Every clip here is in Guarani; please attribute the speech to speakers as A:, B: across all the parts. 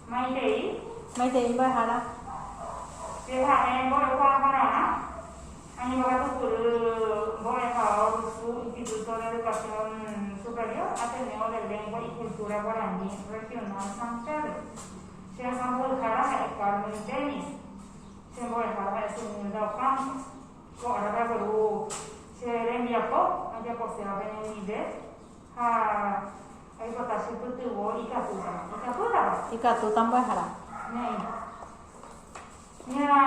A: Maitei. Maitei mba'ehára. Pyhare mbo'ehua porãva. Ani mbogatukury mbo'ehao rusu Instituto de Educación Superior Ateneo de Lengua y Cultura Guaraní Regional San Pedro. Che resa mbo'ehára ha'e Carmen Denia. Che mbo'ehára ha'e Sunilda Ocampo. Ko árape agueru che rembiapo ajaposéva peñandive. Ha oipota che pytyvõ ikatútava. Ikatútava? Ikatúta mbyahara. Ne'ẽ. Ña,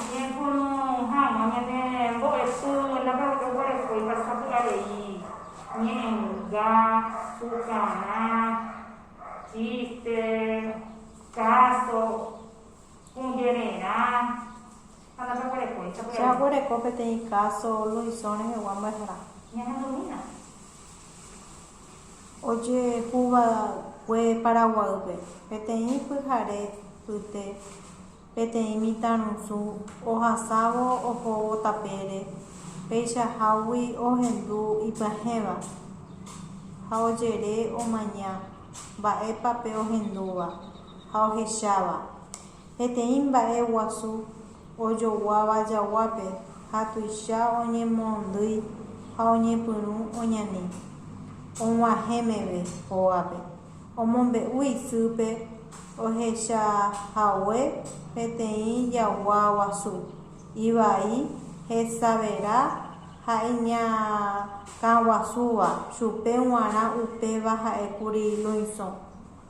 A: ñaipuru hag̃ua ñane mbo'epy ndape oguerekóiva sapy'arei ñe'ẽnga, pukarã, chíste, káso, kũjererã. Ha ndapeguerekói. Che aguereko peteĩ káso Luisõ rehegua mbyasarã. Ñahendomína. Ojehuva'ekue Paraguaýpe, peteĩ pyhare pyte, peteĩ mitãrusu ohasávo ohóvo tapére, peichahágui ohendu ipyahẽva ha ojere omaña mba'épa pe ohendúva ha ohecháva. Peteĩ mba'e guasu ojoguáva jaguápe ha tuicha oñemoondýi ha oñepyrũ oñani og̃uahẽ meve hógape. Omombe'u isýpe ohechahague peteĩ jagua guasu, ivai hesavera ha iñakãguasúva, chupe g̃uarã upéva ha'e kuri luisõ.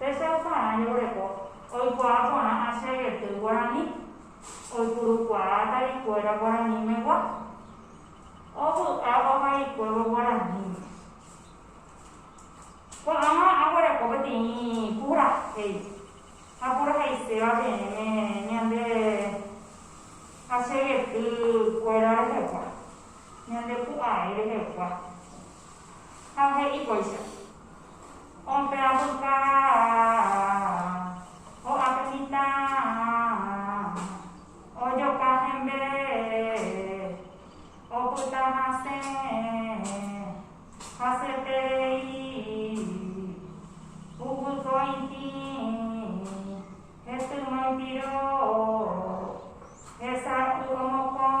A: Hese oparã ñemboreko oikuaa porã asyegety guarani oipurukuaa atarikuéra guaranimegua, ovy'a ohaguikuévo guaraníme. Ko'ãva aguereko peteĩ purahéi ha purahaiséva peẽme ñande asyegety kuéra rehegua, ñande pu'ae rehegua. ha he'i kóicha, Ompe'a puka ho'ápe mitã ojoka hembe opyta hasẽ haseterei huguykõitĩ hesy moĩpiro hesay'u omokõ.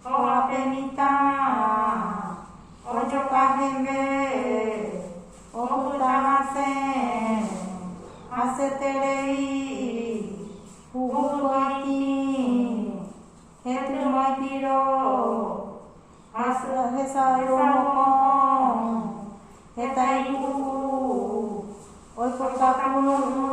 A: Kóva pe mitã ojoka hembe opyta hasẽ haseterei huguykue itĩ hetỹma ipiro ha hesayhu mokõ heta ipuru oipota pururũ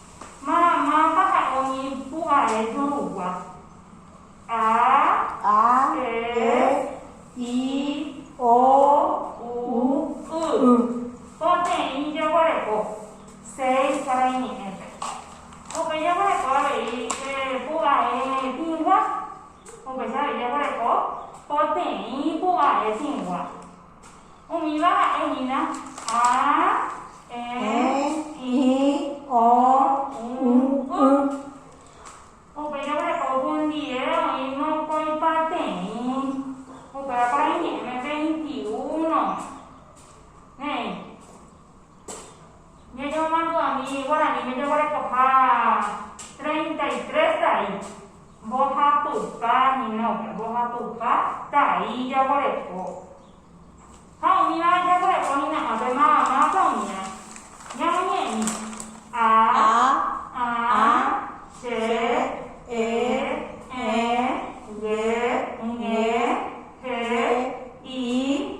A: Maramáta ha'e umi pu'ae jorugua? A. A, E, E, I, O, U, Y. Poteĩ jeguereko seis ha reñe'ẽte. Upéi jeguereko avei pu'ae tĩgua. Upéicha avei jeguereko poteĩ pu'ae tĩgua. Umíva ha'e hína, a, e, i, o, u, y. Upe jogreco hundie oĩ mokõi pateĩ, upéva kuarahy ñe'ẽme veintiuno. Néi. Ñañemomandu'ami guaraníme jaguerekoha treinta y tres tai, mbohapypa hína, mbohapypa tai jaguereko. Ha umíva jaguereko hína ápe mamá-pa umíva. Ñamoñe'ẽ, A, a, che, e, ẽ, ye, ñe, he, i.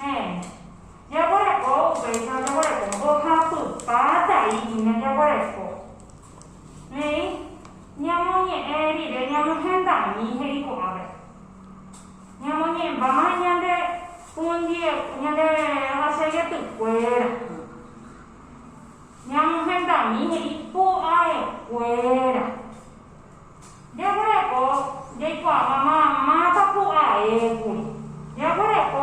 A: Héẽ, jaguereko upéicha ojaguereko mbohapypa tai hína jaguereko. Néi, ñamoñe'ẽ rire ñamohendami he'i ko'ápe. Ñamoñe'ẽmbáma ñande pundie, ñande aseietekuéra. Ñamohendami he'i pu'aekuéra. Jaguereko jaikuaáva mamãta pu'aékuri. Jaguereko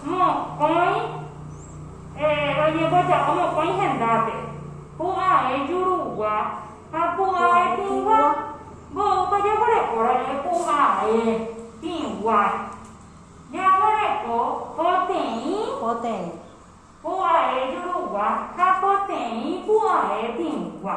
A: mokõi oñemboja'o mokõi hendápe, pu'ae jurugua ha pu'ae tĩgua. Mboýpa jaguerekóra rire pu'ae tĩgua. Jaguereko poteĩ. Poteĩ. Pu'ae jurugua ha poteĩ pu'ae tĩgua.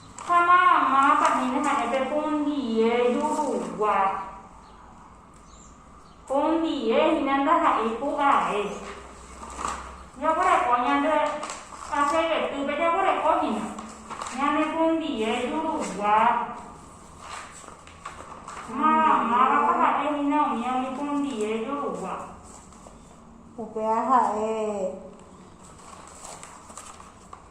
A: Ha mápa hína ha'e pe pundie jurugua. Pundie hína ndaha'éi pu'ae. Jaguereko ñande aseivetýpe jaguereko hína ñane pundie jurugua. Ha mávapa ha'e hína umi umi pundie jurugua. Upéva ha'e.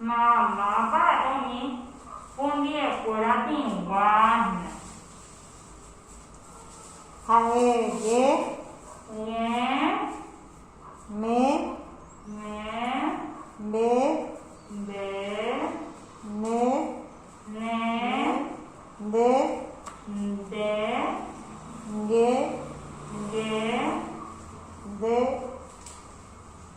A: Mamápa umi hundiekuéra tĩgua hína. Ha'e ye. Ñe. Me. Me. Mbe. Mbe. Ne. Ne. Nde. Nde. Nge. Nge. Nde.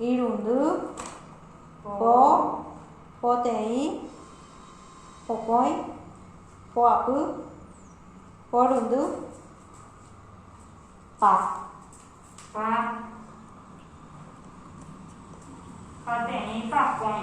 A: Irundy, po, poteĩ, pokõi, poapy, porundy, pa. Pa, pateĩ, pakõi.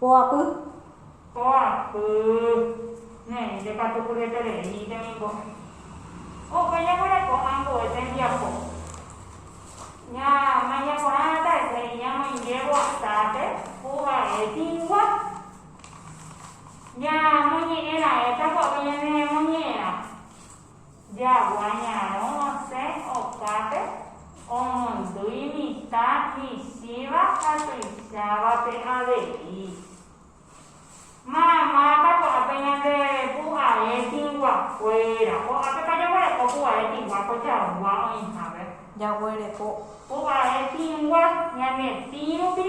A: Poapy. Poapy. Ne'ẽmínte katu pyetereíminte ningo opa ñaguereko ambue tembiapo. Ñamaña porã hatãite iñamoinge voasápe ku vae tĩgua. Ñamoñe'ẽraẽta gua'u ñanemoñe'ẽrã. Jagua ñarõ osẽ okápe omondo imitã michĩva ha tuichávape avei. Mamápa ko'ápe ñande pu'ae tĩgua kuéra. Ko'ápepa jaguereko pu'ae tĩgua ko jagua oĩhápe. Jaguereko. Pu'ae tĩgua ñane tĩ rupi.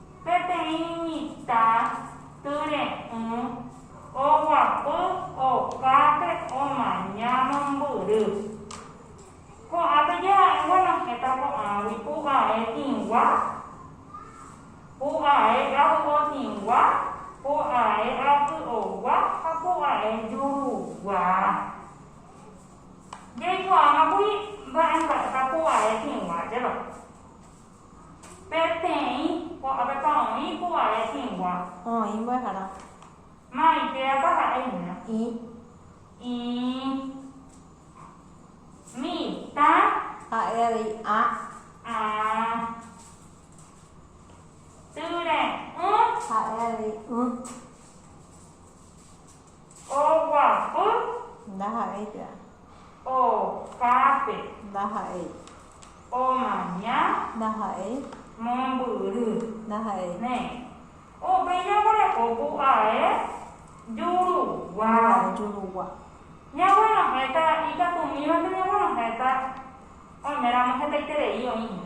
A: Peteĩ mitã tyre'ỹ oguapy okápe omaña mombyry. Ko'ã peje ha'e guenohẽta ko'ãgui pu'ae tĩgua, pu'ae avy'otĩgua, pu'ae aky'ogua ha pu'ae jurugua. Jaikuaámakuri mba'emba'épa pu'ae tĩgua, jero. Peteĩ ko'ápepa oĩ py'aguare hĩngua. Oĩ mbo'ehára. Maitérapa ha'e hína. Ĩ. Ĩ. Mitã. Ha'e avei ã. Ã. Tyre'ỹ. Ha'e avei ỹ. Oguapy. Ndaha'éi térã. Okápe. Ndaha'éi. Omaña. Ndaha'éi. Mombyry. Ndaha'éi. Néi. Upéi jaguereko pu'ae jurugua. Pu'ae jurugua. Ñaguenohẽta ikatũmímante ñaguenohẽta oiméramo hetaiterei oĩva.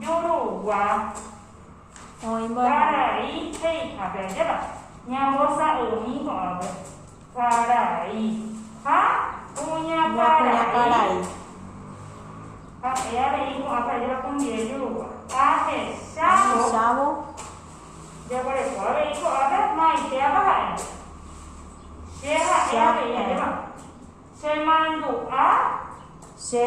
A: Jurugua, Guarari ha Ijape ajépa ñambosa'ymi ko'ápe, Guarari ha Kuñakarai. Ha'e avei ko'ápe ajépa Cumbiré Jurugua. Ahechávo, Jaguareko avei ko'ápe maitéapa ha'e. Che ha'e avei ajépa, Chemandu'a. Che.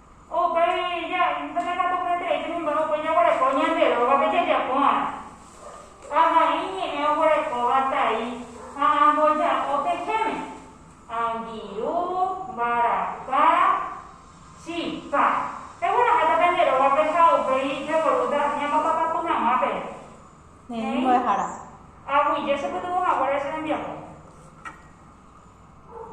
A: Upéi jahénteme katu hetaiterei tembimbo'e upe jaguereko ñande rógape jajapórõ. Ha vai ñe'ẽ oguerekóva tai ha amboja'o pehẽme, angirũ, mbaraka, chipa. Pegueraháta pende rógape ha upéi pevorúta ñapapapapy hag̃ua peve. He'i mbo'ehára. Aguyje chepytyvõ haguére che rembiapo.